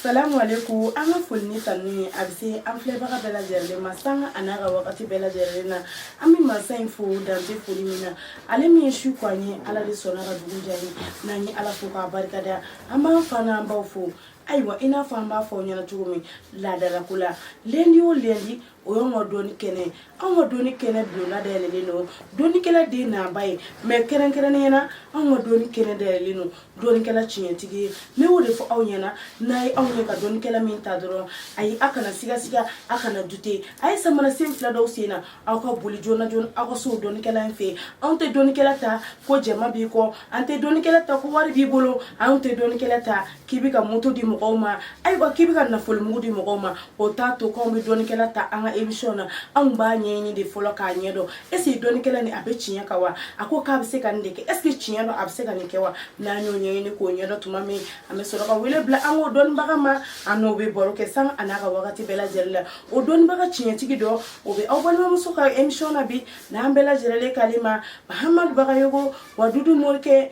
Salamu alaikum an ka foli ni tanu ye a bɛ se an filɛbaga bɛɛ lajɛlen ma sanga a n'a ka wagati bɛɛ lajɛlen na an bɛ mansa in fo dan tɛ foli min na ale min ye su ko an ye ala de sɔnna ka dugu jɛ an ye n'an ye ala fo k'a barika da an b'an fa n'an baw fo ayiwa i n'a fɔ an b'a fɔ aw ɲɛna cogo min laadalako la lendi o lendi o y'anw ka dɔnni kɛnɛ ye anw ka dɔnni kɛnɛ bulonna dayɛlɛlen don dɔnnikɛla den n'a ba ye mɛ kɛrɛnkɛrɛnnenya na anw ka dɔnni kɛnɛ dayɛlɛlen don dɔnnikɛla tiɲɛtigi ye ne y'o de fɔ aw ɲɛna n'aw ye anw ye ka dɔnnikɛla min ta dɔrɔn ayi aw kana sigasiga aw kana dute a ye samara sen fila don aw sen na aw ka boli joona joona aw ka s'o dɔnnikɛla in fɛ anw tɛ dɔnnikɛla ta ko jama b'i kɔ an tɛ dɔnnikɛla ta ko wari b'i bolo anw tɛ dɔnnikɛla ta k'i bɛ ka moto di mɔgɔw ma ayiwa k'i bɛ ka nafolomugu di mɔgɔw ma o t'a to k'anw bɛ dɔnnikɛla ta an ka emisiyɔn na anw b'a ɲɛɲini de fɔlɔ k'a ɲɛ dɔn eseke dɔnnikɛla nin a bɛ tiɲɛ kan wa a ko k'a bɛ se ka nin de kɛ eseke tiɲɛ don a bɛ se ka nin kɛ wa n'an y'o ɲɛɲini k'o ɲɛ dɔn tuma min an bɛ sɔrɔ ka wele bila an k'o dɔnnibaga ma an n'o bɛ baro kɛ sanga a n'a ka wagati bɛɛ lajɛlen la o dɔnnibaga tiɲɛtigi dɔ o bɛ aw balimamuso ka emisiyɔn na bi n'an bɛɛ lajɛlen k'ale ma mahamadu bagayogo wadudu morikɛ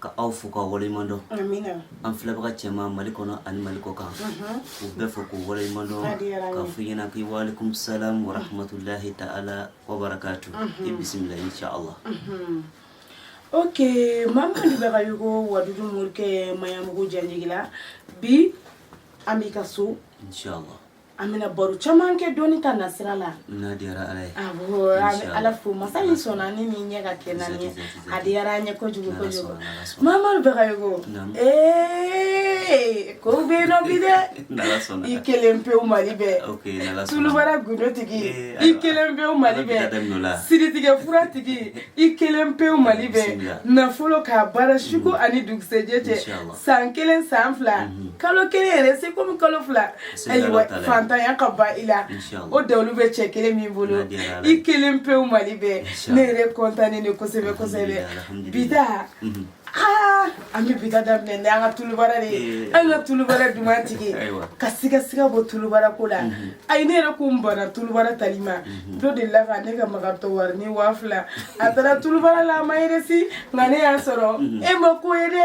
ka aw fo k'aw waleɲuman dɔn an filɛbaga caman mali kɔnɔ ani mali kɔkan u bɛɛ fo k'u waleɲuman dɔn k'a f'u ɲɛna ko walekum salam wa rahmatulahi ta'ala wa barakatu i bisimila insha allah ok mamadu bagayogo wadudu morikɛ maɲanbugu janjigila bi an b'i ka so insha allah an bɛna baro caman kɛ dɔnni ta nasira la n'a diyara ala ye awɔ an bɛ ala fo masa min sɔnna ni nin ɲɛ ka kɛ naani ye a diyara an ye kojugu kojugu mamadu bagayogo ee ko bɛ yen nɔ bi dɛ i kelen pewu mali bɛɛ tulubara gundo tigi i kelen pewu mali bɛɛ siritigɛ fura tigi i kelen pewu mali bɛɛ nafoloko baara suko ani dugusɛjɛ cɛ san kelen san fila mhm. kalo kelen yɛrɛ se komi kalo fila ayiwa fantanya ka ban i la o dalilu bɛ cɛ kelen min bolo i kelen pewu mali bɛɛ ne yɛrɛ kɔntannen de kosɛbɛ kosɛbɛ bi ta mhm. aa an bɛ bi ta daminɛ ni an ka tulubara de ye eh. an ka tulubara duman tigi ka sigasiga bɔ tulubara ko la mhm. ayi ne yɛrɛ ko n banna tulubara tali ma mhm. dɔ delila ka ne ka magatɔ warinin waa fila a taara tulubara la a ma yeresi nka ne y'a sɔrɔ mhm. e ma ko ye dɛ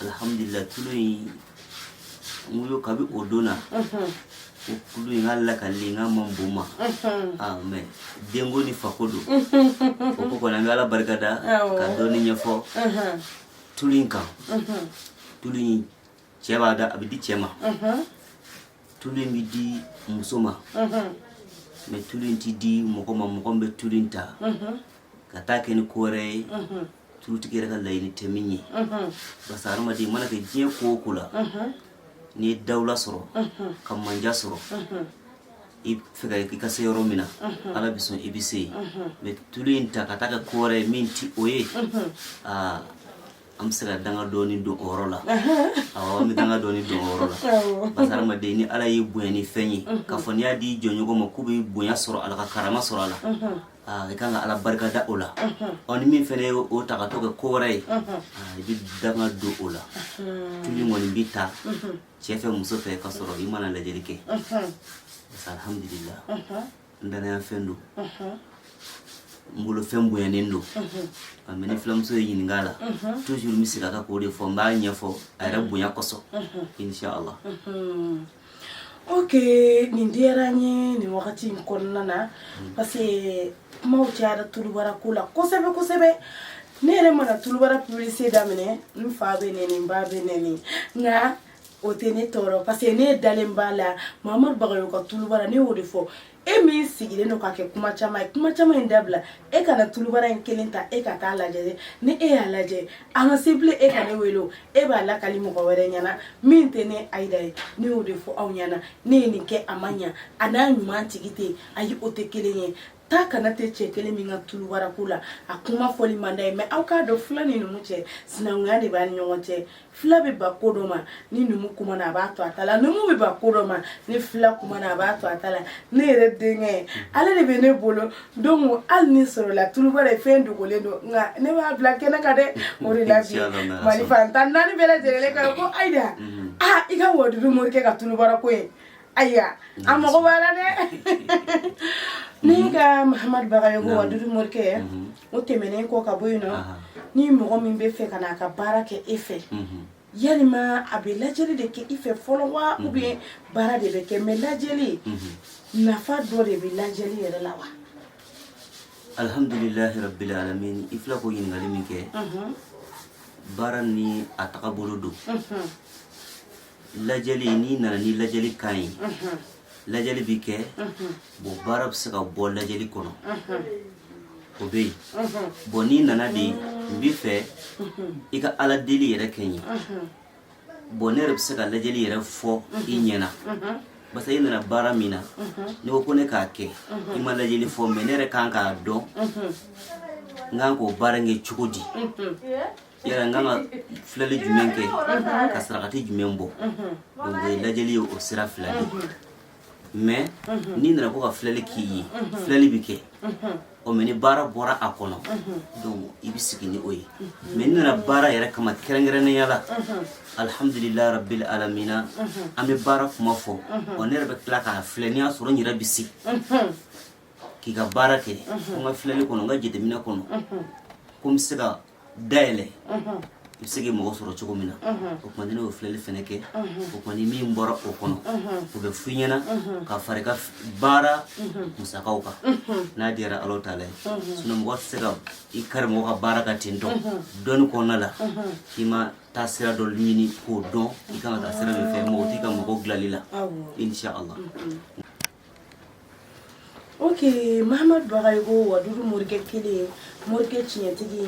alihamudulila tulu in n ko kabi o don na ko tulu in ka lakali n ka man bon ma ah mɛ denko ni fako don o ko kɔni an bɛ ala barika da ka dɔɔni ɲɛfɔ tulu in kan tulu in cɛ b'a da a bɛ di cɛ ma tulu in bɛ di muso ma mɛ tulu in ti di mɔgɔ ma mɔgɔ min bɛ tulu in ta ka taa kɛ ni ko wɛrɛ ye tulutigi yɛrɛ ka laɲini tɛ min ye parce que hadamaden mana kɛ diɲɛ ko o ko la n'i ye dawula sɔrɔ ka manja sɔrɔ i fɛ ka i ka se yɔrɔ min na ala bɛ sɔn i bɛ se yen mais tulu in ta ka taa kɛ ko wɛrɛ ye min tɛ o ye aa an bɛ se ka danga dɔɔni don o yɔrɔ la awɔ an bɛ danga dɔɔni don o yɔrɔ la parce que hadamaden ni ala y'i bonya ni fɛn ye k'a fɔ n'i y'a di i jɔnɲɔgɔn ma k'u bɛ bonya sɔrɔ a la ka karama sɔrɔ a la aa i kan ka ala barika da o la ɔ ni min fɛnɛ ye o ta ka t'o kɛ ko wɛrɛ ye aa, i bɛ danga don o la tulu kɔni bɛ ta cɛ fɛ muso fɛ ka sɔrɔ i ma na lajɛli kɛ Parce que alhamdulila n danaya fɛn don n bolo fɛn bonyanen don mais ni filamuso ye n ɲininka a la toujours n bɛ segin a kan k'o de fɔ n b'a ɲɛfɔ a yɛrɛ bonya kosɔn inshallah Oke nin diyara n ye nin wagati in kɔnɔna na parce que kumaw cayara tulubara ko la kosɛbɛ kosɛbɛ ne yɛrɛ mana tulubara publicité daminɛ n fa bɛ nɛni n ba bɛ nɛni nka o tɛ ne tɔɔrɔ parce que ne dalen b'a la mahamadu bagayogo ka tulubara ne y'o de fɔ e min sigilen don ka kɛ kuma caman ye kuma caman in dabila e ka na tulubara in kelen ta e ka t'a lajɛ ni e y'a lajɛ a ma se bilen e ka ne wele o e b'a lakali mɔgɔ wɛrɛ ɲɛna min tɛ ne ayida ye ne y'o de fɔ aw ɲɛna ne ye nin kɛ a ma ɲa a n'a ɲuman tigi tɛ yen ayi o tɛ kelen ye taa kana tɛ cɛ kelen min ka tulubara ko la a kuma fɔli man d'a ye mais aw k'a dɔn fila ni numu cɛ sinankunya de b'a ni ɲɔgɔn cɛ fila bɛ ban ko dɔ ma ni numu kumana a b'a to a ta la numu bɛ ban ko dɔ ma ni fila kumana a b'a to a ta la ne yɛrɛ denkɛ ale de bɛ ne bolo donc hali n'a sɔrɔla tulubara ye fɛn dogolen don nka ne b'a bila kɛnɛ kan dɛ o de la bi mali fan tan ni naani bɛɛ lajɛlen ka ko ayida aa i ka wadudu morikɛ ka tulubara ko ye Ayiwa a mago b'a la dɛ ne ka mahamadu bagayogo wadudu morikɛ yan o tɛmɛnen kɔ ka bɔ yen nɔn ni mɔgɔ min b'a fɛ ka na a ka baara kɛ e fɛ yalima a bɛ lajɛli de kɛ e fɛ fɔlɔ wa ou bien baara de bɛ kɛ mais lajɛli nafa dɔ de bɛ lajɛli yɛrɛ la wa alihamdulilahi rabil alamin i fila ko ɲininkali min kɛ baara ni a tagabolo don lajɛli n'i nana ni lajɛli kan ye lajɛli bɛ kɛ bon baara bɛ se ka bɔ lajɛli kɔnɔ o bɛ yen bon n'i nana de n b'a fɛ i ka ala deli yɛrɛ kɛ n ye bon ne yɛrɛ bɛ se ka lajɛli yɛrɛ fɔ i ɲɛna parce que i nana baara min na n'i ko ko ne k'a kɛ i ma lajɛli fɔ mais ne yɛrɛ kan k'a dɔn n kan k'o baara kɛ cogo di Yala n kan ka filɛli jumɛn kɛ ka sarakati jumɛn bɔ o ye lajɛli ye o sira fila de mɛ n'i nana ko ka filɛli k'i ye filɛli bɛ kɛ o mɛ ni baara bɔra a kɔnɔ i bɛ sigi ni o ye mɛ n'i nana baara yɛrɛ kama kɛrɛnkɛrɛnnenya la alihamdulila rabili alamina an bɛ baara kuma fɔ ɔ ne yɛrɛ bɛ tila k'a filɛ n'i y'a sɔrɔ n yɛrɛ bɛ se k'i ka baara kɛ n ka filɛli kɔnɔ n ka jateminɛ kɔnɔ ko n bɛ se ka dayɛlɛ i bɛ se k'i mago sɔrɔ cogo min na o tuma ni ne y'o filɛli fɛnɛ kɛ o tuma ni min bɔra o kɔnɔ o bɛ f'i ɲɛna ka fara i ka baara musakaw kan n'a diyara ala taala ye sinɔn mɔgɔ tɛ se ka i kari mɔgɔ ka baara kan ten dɔn dɔnni kɔnɔna la k'i ma taa sira dɔ ɲini k'o dɔn i kan ka taa sira min fɛ magotigi ka mago dilanli la insha allah Ok mahamadu bagayogo wadudu morikɛ kelen morikɛ tiɲɛtigi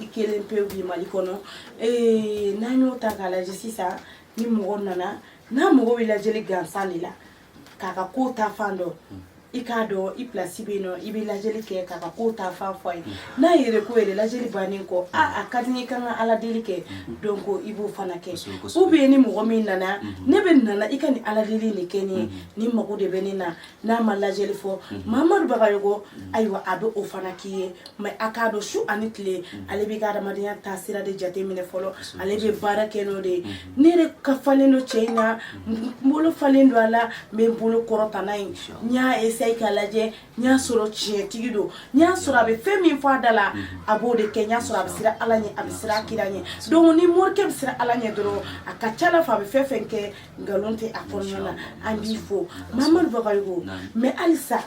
i kelen pe bi mali kɔnɔ ee n'an y'o ta k'a lajɛ sisan ni mɔgɔ nana n'a mago bɛ lajɛli gansan de la k'a ka ko ta fan dɔn i k'a dɔn i plasi bɛ yen nɔ i bɛ lajɛli kɛ k'a ka ko ta fan fɔ a ye n'a yɛrɛ ko yɛrɛ lajɛli bannen kɔ aaa a ka di n ye i ka ala deli kɛ donc i b'o fana kɛ ou bien ni mɔgɔ min nana ne bɛ nana i ka ni ala deli de kɛ ne ye Ne mago de bɛ nin na n'a ma lajɛli fɔ mahamadu bagayogo ayiwa a bɛ o fana k'i ye mɛ a k'a dɔn su ani tile ale bɛ ka adamadenya taasira de jate minɛ fɔlɔ ale bɛ baara kɛ n'o de ye ne tɛgɛ falen don cɛ in na n bolo falen don a la n bɛ n bolo kɔrɔta n y'a essayer k'a lajɛ n y'a sɔrɔ tiɲɛtigi don n y'a sɔrɔ a bɛ fɛn min fɔ a da la a b'o de kɛ n y'a sɔrɔ a bɛ siran ala ɲɛ a bɛ siran kira ɲɛ donc ni morikɛ bɛ siran ala ɲɛ dɔrɔn a ka ca ala fɛ a bɛ fɛn fɛn kɛ nkalon tɛ a kɔnɔna na an b'i fo mahamadu bagayogo mɛ halisa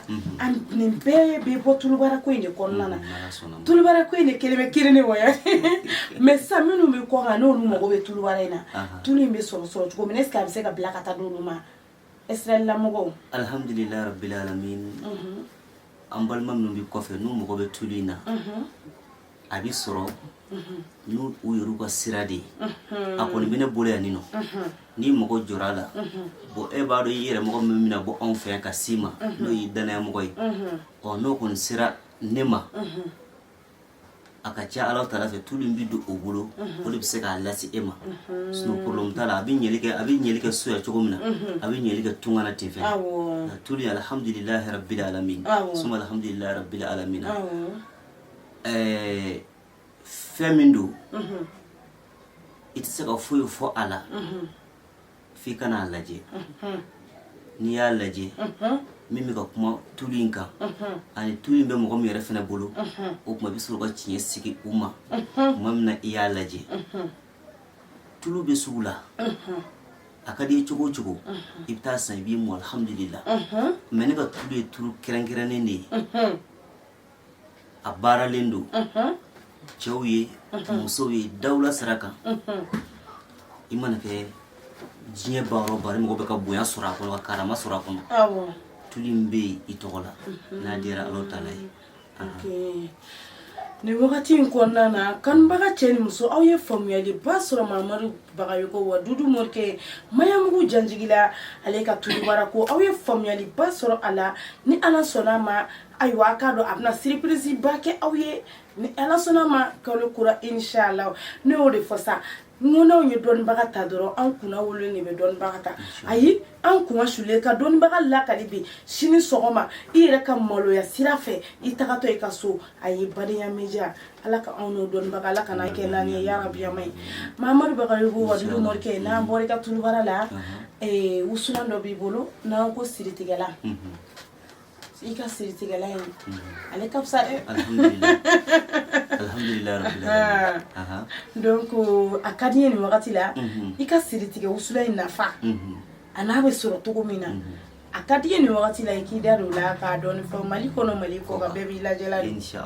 nin bɛɛ bɛ bɔ tulubara ko in de kɔnɔna na tulubara ko in de kelen bɛ kelen de wa mɛ sisan minnu bɛ kɔkan n'olu mago bɛ tulubara in na tulu in bɛ sɔrɔ sɔrɔ cogo min est-ce que a bɛ se ka bila ka taa d'olu ma ɛsiralamɔgɔw alihamdulilayi rabbil alamin an balima minnu bɛ kɔfɛ n'u mago bɛ tulu in na a bɛ sɔrɔ n'u yɛrɛ ka sira de ye a kɔni bɛ ne bolo yan nin nɔ ni mɔgɔ jɔra a la bɔn e b'a dɔn i yɛrɛ mɔgɔ min bɛna bɔ anw fɛ yan ka s'i ma n'o y'i dannaya mɔgɔ ye ɔ n'o kɔni sera ne ma a ka ca ala taala fɛ tulu bɛ don o bolo o de bɛ se k'a lase e ma sinon problème t'a la a bɛ ɲɛli kɛ a bɛ ɲɛli kɛ so yan cogo min na a bɛ ɲɛli kɛ tunga na ten fɛ tulu in alihamdulilahi rabili alamin suma alihamdulilahi rabili alamina Ɛɛ fɛn min don i tɛ se ka foyi fɔ a la f'i ka n'a lajɛ n'i y'a lajɛ min bɛ ka kuma tulu in kan ani tulu in bɛ mɔgɔ min yɛrɛ fana bolo o tuma i bɛ sɔrɔ ka tiɲɛ sigi u ma tuma min na i y'a lajɛ tulu bɛ sugu la a ka di i cogo o cogo i bɛ taa san i b'i mu alihamudulila mɛ ne ka tulu ye tulu kɛrɛnkɛrɛnnen de ye a baaralen don cɛw ye musow ye dawula sira kan i mana kɛ diɲɛ baara o baara mɔgɔ bɛ ka bonya sɔrɔ a kɔnɔ ka karama sɔrɔ a kɔnɔ tulu min bɛ yen i tɔgɔ la n'a diyara ala taala ye nin wagati in kɔnɔna na kanubaga cɛ ni muso aw ye faamuyaliba sɔrɔ mamadu bagayoko wadudu morikɛ mayamugu janjigila ale ka tulubara ko aw ye faamuyaliba sɔrɔ a la ni ala sɔnna ma ayiwa a k'a dɔn a bɛna surprise ba kɛ aw ye ni ala sɔnna ma kalo kura inshala ne y'o de fɔ sa n ko n'anw ye dɔnnibaga ta dɔrɔn an kunnawololen de bɛ dɔnnibaga ta ayi an kunna sulen ka dɔnnibaga lakali bi sini sɔgɔma i yɛrɛ ka maloya sira fɛ i tagatɔ i ka so ayi badenya media ala ka anw n'o dɔnnibaga ala kana kɛ naani ye yarabiyama ye mamadu bagayoko wadudu morikɛ n'an bɔra i ka tulubara la wusulan dɔ b'i bolo n'an ko siritigɛla i ka siritigɛla in ale ka fisa dɛ alihamudulila donc a ka di n ye nin wagati la i ka siritigɛ wusulan in nafa an'a bɛ sɔrɔ cogo min na a ka di n ye nin wagati la i k'i da don o la k'a dɔɔni fɔ mali kɔnɔ mali kɔkan bɛɛ b'i lajɛla don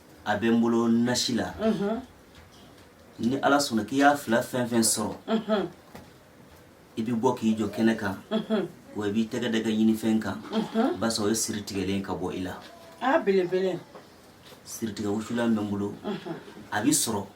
a bɛ n bolo nasi la ni ala sɔnna k'i y'a fila fɛn o fɛn sɔrɔ i bɛ bɔ k'i jɔ kɛnɛ kan wa i b'i tɛgɛ d'i ka ɲini fɛn kan basa o ye siri tigɛlen ka bɔ i la belebele siritigɛ wusulan bɛ n bolo a bɛ sɔrɔ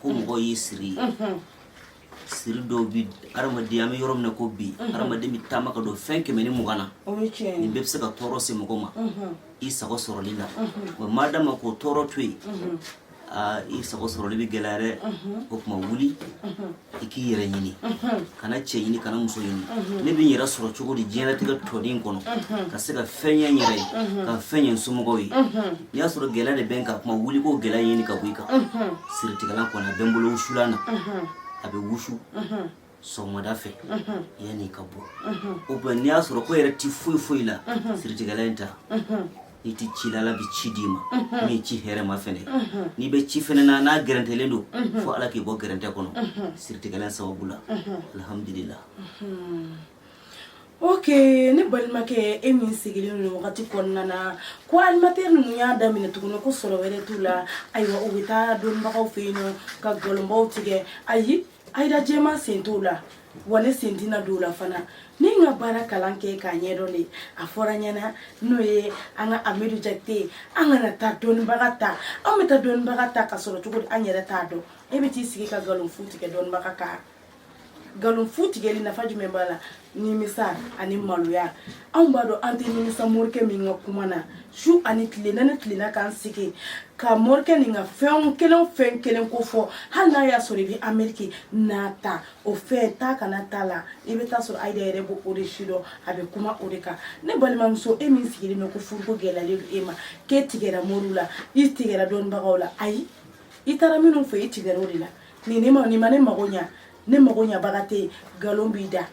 ko mɔgɔ y'i siri ye siri dɔw bi adamaden an bɛ yɔrɔ min na ko bi adamaden bɛ taama ka don fɛn kɛmɛ ni mugan na nin bɛɛ bɛ se ka tɔɔrɔ se mɔgɔ ma i sago sɔrɔli la wa madama k'o tɔɔrɔ to yen aa i sago sɔrɔli bɛ gɛlɛya dɛ o tuma wuli i k'i yɛrɛ ɲini kana cɛ ɲini kana muso ɲini ne bɛ n yɛrɛ sɔrɔ cogo di diɲɛlatigɛ tɔnin kɔnɔ ka se ka fɛn ɲɛ n yɛrɛ ye ka fɛn ɲɛ n somɔgɔw ye I y'a sɔrɔ gɛlɛya de bɛ n kan o tuma wuli k'o gɛlɛya ɲini ka bɔ i kan siritigɛlan kɔni a bɛ n bolo wusulan na a bɛ wusu sɔgɔmada fɛ yanni i ka bɔ ou bien n'i y'a sɔrɔ ko yɛrɛ ti foyi foyi la siritigɛlan in ta n'i tɛ ci la ala bɛ ci d'i ma min ye ci hɛrɛma fɛnɛ n'i bɛ ci fɛnɛ na n'a gɛrɛntɛlen don fo ala k'i bɔ gɛrɛntɛ kɔnɔ siritigɛlan sababu la alihamudulila ok ne balimakɛ e min sigilen don wagati kɔnɔna na ko animateur ninnu y'a daminɛ tuguni ko sɔrɔ wɛrɛ t'u la ayiwa u bɛ taa dɔnnibagaw fɛ yen ka nkalonbaw tigɛ ayi ayida jɛma sen t'o la wa ne sen tɛna don o la fana ne ka baara kalan kɛ k'a ɲɛdɔn de a fɔra ɲɛna n'o ye an ka amidu jakite an kana taa dɔnnibaga ta an bɛ taa dɔnnibaga ta ka sɔrɔ cogo di an yɛrɛ t'a dɔn e bɛ t'i sigi ka nkalon fu tigɛ dɔnnibaga kan nkalon fu tigɛli nafa jumɛn b'a la nimisa ani maloya anw b'a dɔn an tɛ nimisa morikɛ min ka kuma na su ani tile na ne tilenna k'an sigi ka morikɛ nin ka fɛn kelen fɛn kelen ko fɔ hali n'a y'a sɔrɔ i bɛ ameriki n'a ta o fɛn taa kana t'a la i bɛ taa sɔrɔ ayida yɛrɛ b'o o de sidɔn a bɛ kuma o de kan ne balimamuso e min sigilen bɛ ko furuko gɛlɛyalen don e ma k'e tigɛra moriw la i tigɛra dɔnnibagaw la ayi i taara minnu fɛ i tigɛra o de la nin ne ma nin ma ne mago ɲa ne mago ɲabaga tɛ yen nkalon b'i da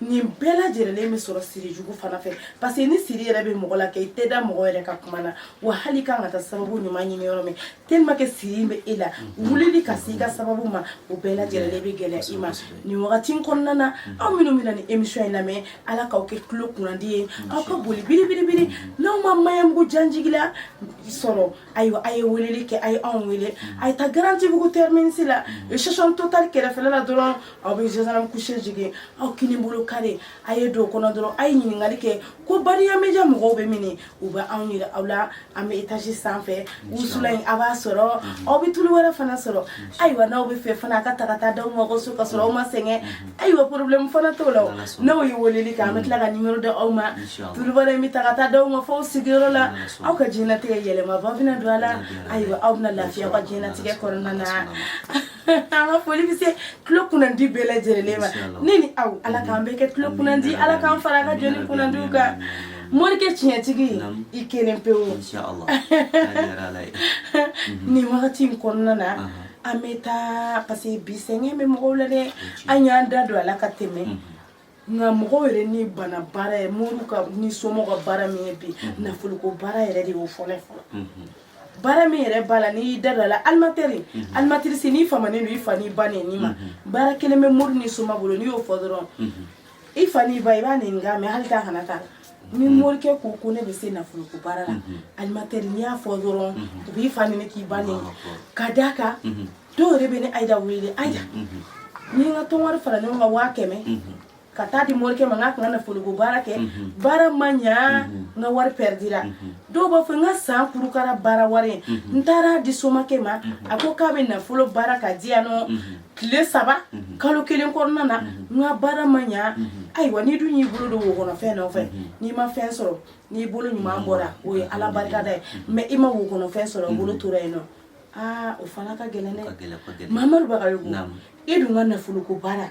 nin bɛɛ lajɛrɛlen bɛ sɔrɔ siri jugu fana fɛ parce que ni siri yɛrɛ bɛ mɔgɔ la kɛ i tɛ da mɔgɔ yɛrɛ ka kuma na wa hali kan ka taa sababu ɲuman ɲini yɔrɔ min tellement que siri in bɛ e la mm-hmm. wulili ka se i ka sababu ma o bɛɛ mm-hmm. lajɛrɛlen bɛ gɛlɛya i ma nin wagati in kɔnɔna na mm-hmm. aw minnu bɛna nin émission in lamɛn ala k'aw kɛ tulo kunnandi ye aw ka boli biribiribiri n'aw ma maɲanbugu janjigila sɔrɔ ayiwa a ye weleli kɛ a ye anw wele mm. a ye taa garantibugu terminisi la mm. station total kɛrɛfɛla la dɔrɔn aw bɛ gendarme couché jigin aw kini bolo kare a ye don kɔnɔ dɔrɔn a ye ɲininkali kɛ ko bariya media mɔgɔw bɛ mini u bɛ anw yira aw la an bɛ étage sanfɛ wusulan in aw b'a sɔrɔ mm-hmm. aw bɛ tulu wɛrɛ fana sɔrɔ ayiwa n'aw b'a fɛ fana a ka ta ka taa d'aw ma aw ka so ka sɔrɔ aw ma sɛgɛn mm-hmm. ayiwa problème fana t'o la n'aw ye weleli kɛ an bɛ tila ka nimero d'aw ma tulubara in bɛ ta ka taa d'aw ma f'aw sigiyɔrɔ la aw ka diɲɛnatigɛ yɛlɛmaba bɛna don a la ayiwa aw bɛna lafiya aw ka diɲɛnatigɛ kɔnɔna na an ka foli bɛ se tulo kunnandi bɛɛ lajɛlen ma ne ni aw ala k'an bɛɛ kɛ tulo kunnandi ala k'an fara a ka jɔni kunnandiw kan morikɛ tiɲɛtigi i kelen pewu nin wagati in kɔnɔna na an bɛ taa parce que bi sɛgɛn bɛ mɔgɔw la dɛ an y'an da don a la ka tɛmɛ nka mɔgɔw yɛrɛ ni bana baara ye mori ka ni soma ka baara min ye bi nafoloko baara yɛrɛ de y'o fɔlɔ fɔlɔ baara min yɛrɛ b'a la n'i y'i da don a la alimatɛri alimatirisi n'i famanen don i fa n'i ba neni ma baara kelen bɛ mori ni soma bolo n'i y'o fɔ dɔrɔn i fa n'i ba i b'a nenikan mɛ hali t'a kana ta ni mm-hmm. morikɛ ko ko ne bɛ se nafoloko baara la mm-hmm. alimatɛri n'i y'a fɔ dɔrɔn mm-hmm. u b'i fa neni k'i ba neni ka d'a kan dɔw yɛrɛ bɛ ne ayida wele ayida n ye n ka tɔn wari fara ɲɔgɔn kan waa kɛmɛ ka taa di morikɛ ma n k'a ka na nafoloko baara kɛ baara ma ɲa n ka wari pɛridira dɔw b'a fɔ n ka san kurukara baara wari ye n taara di somakɛ ma a ko k'a bɛ nafolo baara ka di yan nɔ tile saba kalo kelen kɔnɔna na n ka baara ma ɲa ayiwa n'i dun y'i bolo don wo kɔnɔfɛn nɔfɛ n'i ma fɛn sɔrɔ n'i bolo ɲuman bɔra o ye ala barikada ye mɛ i ma wo kɔnɔfɛn sɔrɔ i bolo tora yen nɔ aa o fana ka gɛlɛn dɛ mamadu bagayogo e dun ka nafoloko baara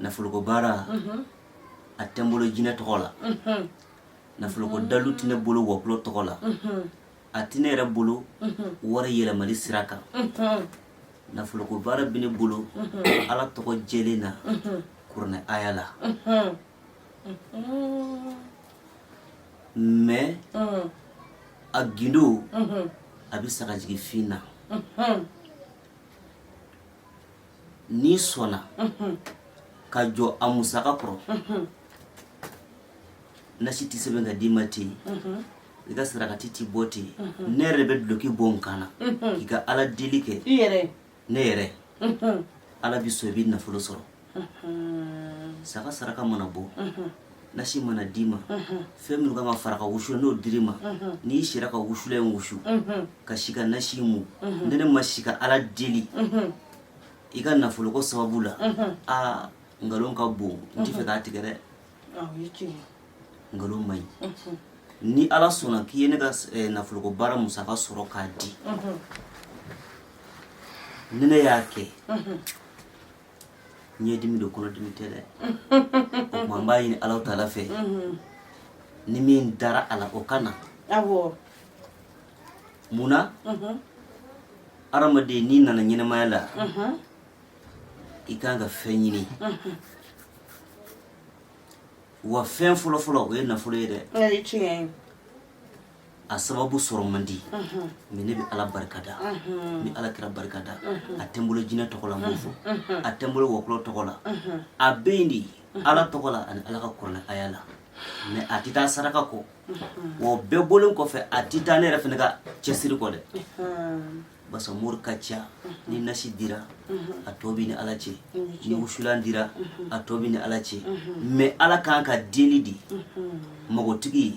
nafoloko baara a tɛ n bolo jinɛ tɔgɔ la nafoloko dalu tɛ ne bolo wɔkulɔ tɔgɔ la a tɛ ne yɛrɛ bolo wari yɛlɛmali sira kan nafoloko baara bɛ ne bolo ala tɔgɔ jɛlen na kuranɛ aya la mɛ a gindo a bɛ sagajigi fin na n'i sɔnna ka jɔ a musaka kɔrɔ nasi tɛ sɛbɛn ka d'i ma ten i ka sarakati tɛ bɔ ten ne yɛrɛ bɛ duloki bɔ n kan na k'i ka ala deli kɛ ne yɛrɛ ala bɛ sɔn i bɛ nafolo sɔrɔ saga saraka mana bɔ nasi mana d'i ma fɛn minnu kan ka fara ka wusu n'o dir'i ma n'i sera ka wusulan in wusu ka si ka nasi mu ni ne ma si ka ala deli i ka nafoloko sababu la aa nkalon ka bon n tɛ fɛ k'a tigɛ dɛ nkalon man ɲi ni ala sɔnna k'i ye ne ka eh, nafoloko baara musaka sɔrɔ k'a di ni ne y'a kɛ ɲɛdimi don kɔnɔdimi tɛ dɛ o tuma n b'a ɲini alahu taala fɛ ni min dara a la o ka na mun na adamaden n'i nana ɲɛnamaya la i kan ka fɛn ɲini wa fɛn fɔlɔfɔlɔ o ye nafolo ye dɛ a sababu sɔrɔ man di mɛ ne bɛ ala barika da n bɛ ala kira barika da a tɛ n bolo jinɛ tɔgɔ la n b'o fɔ a tɛ n bolo wɔkulɔ tɔgɔ la a bɛ yen de ala tɔgɔ la ani ala ka kuranɛ aya la mɛ a tɛ taa saraka kɔ wa o bɛɛ bɔlen kɔfɛ a tɛ taa ne yɛrɛ fana ka cɛsiri kɔ dɛ basa mori ka ca ni nasi dira a tɔ b'i ni ala cɛ ni wusulan dira a tɔ b'i ni ala cɛ mɛ ala kan ka deli de makotigi ye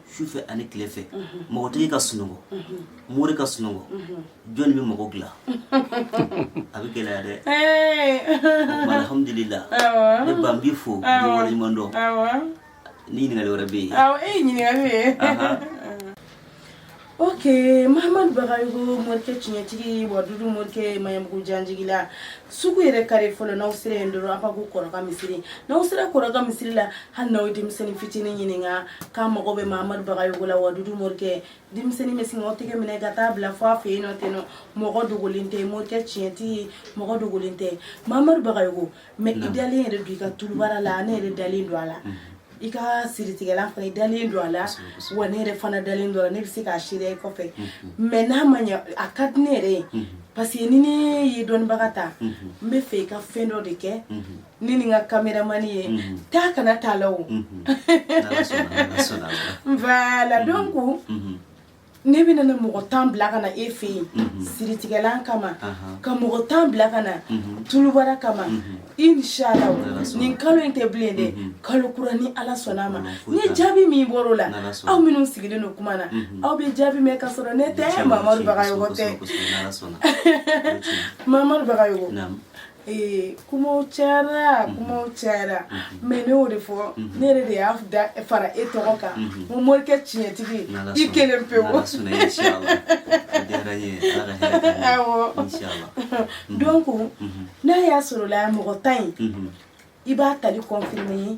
sufɛ ani tile fɛ makotigi ka sunɔgɔ mori ka sunɔgɔ jɔnni bɛ mako dilan a bɛ gɛlɛya dɛ alhamdulila nba n b'i fo n b'i waleɲuman dɔn Ni ɲininkali wɛrɛ bɛ yen. Awɔ e ye ɲininkali de ye. Ok Mahamadu Bagayogo morikɛ tiɲɛtigi Wadudu morikɛ maɲanbugu janjigila sugu yɛrɛ kare fɔlɔ n'aw sera yen dɔrɔn aw ka bɔ kɔrɔka misiri n'aw sera kɔrɔka misiri la hali n'aw ye denmisɛnnin fitinin ɲininka k'a mago bɛ Mahamadu Bagayogo la Wadudu morikɛ denmisɛnnin bɛ sin k'aw tɛgɛ minɛ ka taa bila fɔ a fɛ yen nɔ ten nɔ mɔgɔ dogolen tɛ morikɛ tiɲɛtigi mɔgɔ dogolen tɛ Mahamadu Bagayogo Mais i dalen yɛrɛ don i ka tulubara la ne yɛrɛ dalen don a la i ka siritigɛlan fana i dalen don a la wa ne yɛrɛ fana dalen don a la ne bɛ se k'a seereya i kɔfɛ mais n'a ma ɲɛ a ka di ne yɛrɛ ye parce que ni ne ye dɔnnibaga ta n bɛ fɛ i ka fɛn dɔ de kɛ ne ni n ka kameramani ye taa kana t'a la o voilà donc ne bɛna na mɔgɔ tan bila ka na e fɛ yen mhm. siritigɛlan kama ka mɔgɔ tan bila ka na mhm. tulubara kama mhm. inshala nin kalo in tɛ bilen dɛ kalo kura ni ala sɔnna a ma ni jaabi min bɔr'o la aw minnu sigilen don kuma na aw bɛ jaabi mɛn ka sɔrɔ ne tɛ mamadu bagayɔgɔ tɛ mamadu bagayɔgɔ Ee kuma cayara kuma cayara mais ne y'o de fɔ ne yɛrɛ de y'a fara e tɔgɔ kan ko morikɛ tiɲɛtigi i kelen pewu donc n'a y'a sɔrɔ la mɔgɔ tan in i b'a tali confirmer ye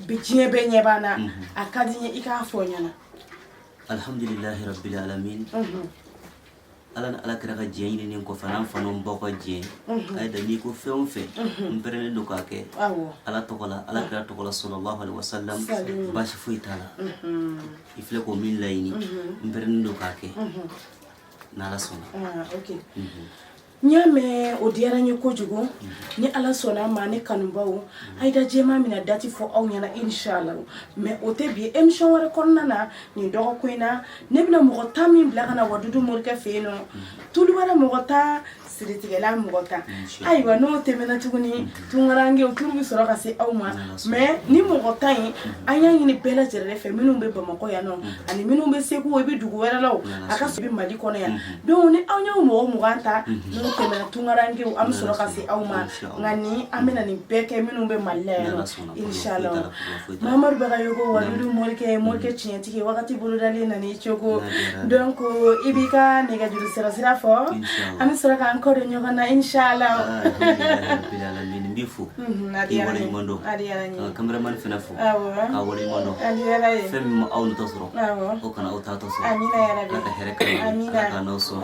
bi diɲɛ bɛɛ ɲɛ b'an na a ka di n ye i k'a fɔ n ɲɛna alihamdulilahi rabbil alamin ala ni ala kira ka diɲɛ ɲininen kɔfɛ an fa n'an baw ka diɲɛ Ayida n'i ko fɛn o fɛn n pɛrɛlen don k'a kɛ ala tɔgɔ la ala kira tɔgɔ la sallallahu alaihi wasallam baasi foyi t'a la i filɛ ko min laɲini n pɛrɛlen don k'a kɛ n'ala sɔnna n y'a mɛn o diyara n ye kojugu ni ala sɔnna a ma ne kanubaw ayida jɛma mina dati fɔ aw ɲɛna inshala mais o tɛ bi emisɔn wɛrɛ kɔnɔna na nin dɔgɔkun in na ne bɛna mɔgɔ tan min bila ka na wadudu morikɛ fɛ yen nɔ tulubara mɔgɔ tan siritigɛlan mɔgɔ tan ayiwa n'o tɛmɛna tuguni tunkarankew turu bɛ sɔrɔ ka se aw ma mais nin mɔgɔ tan in an y'a ɲini bɛɛ lajɛlen fɛ minnu bɛ bamakɔ yan nɔ ani minnu bɛ segu i bɛ dugu wɛrɛ la a ka sɔrɔ mali kɔnɔ yan donc ni aw y'o mɔgɔ mugan ta n'o tɛmɛna tunkarankew an bɛ sɔrɔ ka se aw ma nka ni an bɛna nin bɛɛ kɛ minnu bɛ mali la yan nɔ inshallah Mamadu Bagayogo Wadudu morikɛ morikɛ tiɲɛtigi wagati bolodalen nana nin cogo donc i b'i ka nɛgɛjuru sirasira fɔ an bɛ sɔrɔ k'an kɔ don ɲɔgɔn na inshallah n b'i fo ka kameramani fana fo k'a waleɲuman dɔn fɛn min ma aw natɔ sɔrɔ o kana aw taatɔ sɔrɔ n'aw sɔn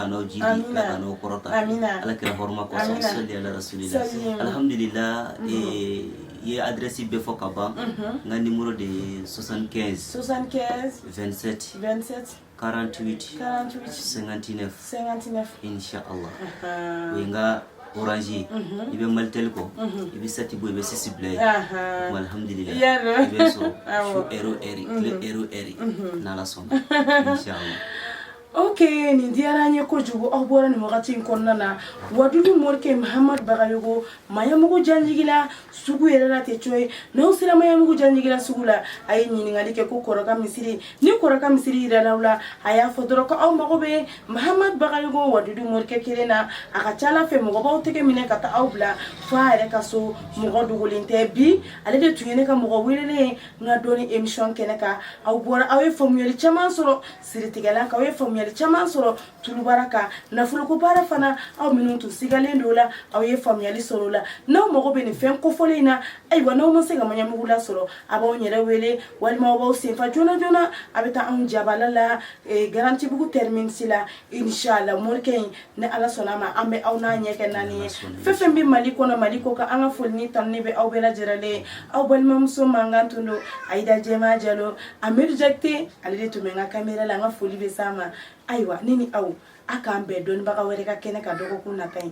n'aw jidi n'aw kɔrɔta ala kira hɔrɔma kɔsɔn alahamidu i ye adrɛsi bɛɛ fɔ ka ban n ka nimero de ye 75 75 27 27 48 48 59 59 inshallah o ye n ka orange ye i bɛ malitel kɔ i bɛ sɛti bɔ i bɛ sisi bila yen alhamdulila i bɛ sɔrɔ su ɛri o ɛri tile ɛri o ɛri n'ala sɔnna inshallah ok nin diyara n ye kojugu aw bɔra nin wagati in kɔnɔna na wadudu morikɛ mahamadu bagayogo maɲamugu janjigila sugu yɛrɛ la tɛ co ye n'aw sera maɲamugu janjigila sugu la a ye ɲininkali kɛ ko kɔrɔka misiri ni kɔrɔka misiri yirala aw la a y'a fɔ dɔrɔn ko aw mago bɛ mahamadu bagayogo wadudu morikɛ kelen na a ka ca ala fɛ mɔgɔ b'aw tɛgɛ minɛ ka taa aw bila fo a yɛrɛ ka so mɔgɔ dogolen tɛ bi ale de tun ye ne ka mɔgɔ welelen ye n ka dɔnni emisɔn kɛnɛ kan aw bɔra aw ye faamuyali caman sɔrɔ siritigɛlan kan aw ye faamuyali caman sɔrɔ tulubara kan nafoloko baara fana aw minnu tun sigalen don o la aw ye faamuyali sɔrɔ o la n'aw mago bɛ nin fɛn kofɔlen in na ayiwa n'aw ma se ka maɲamugu lasɔrɔ a b'a yɛrɛ wele walima aw b'aw senfa joona joona a bɛ taa anw jabala la garantibugu tɛriminisi la inshala morikɛ in ni ala sɔnna a ma an bɛ aw n'a ɲɛ kɛ naani ye fɛn fɛn bɛ mali kɔnɔ mali kɔkan an ka foli ni tanuni bɛ aw bɛɛ lajɛrɛlen aw balimamuso mankan tun don ayida jɛma jalo amidu jakite ale de tun bɛ n ka kamera la an ka foli bɛ s'a ma ayiwa ne ni aw a k'an bɛn dɔnnibaga wɛrɛ ka kɛnɛ kan dɔgɔkun nata ye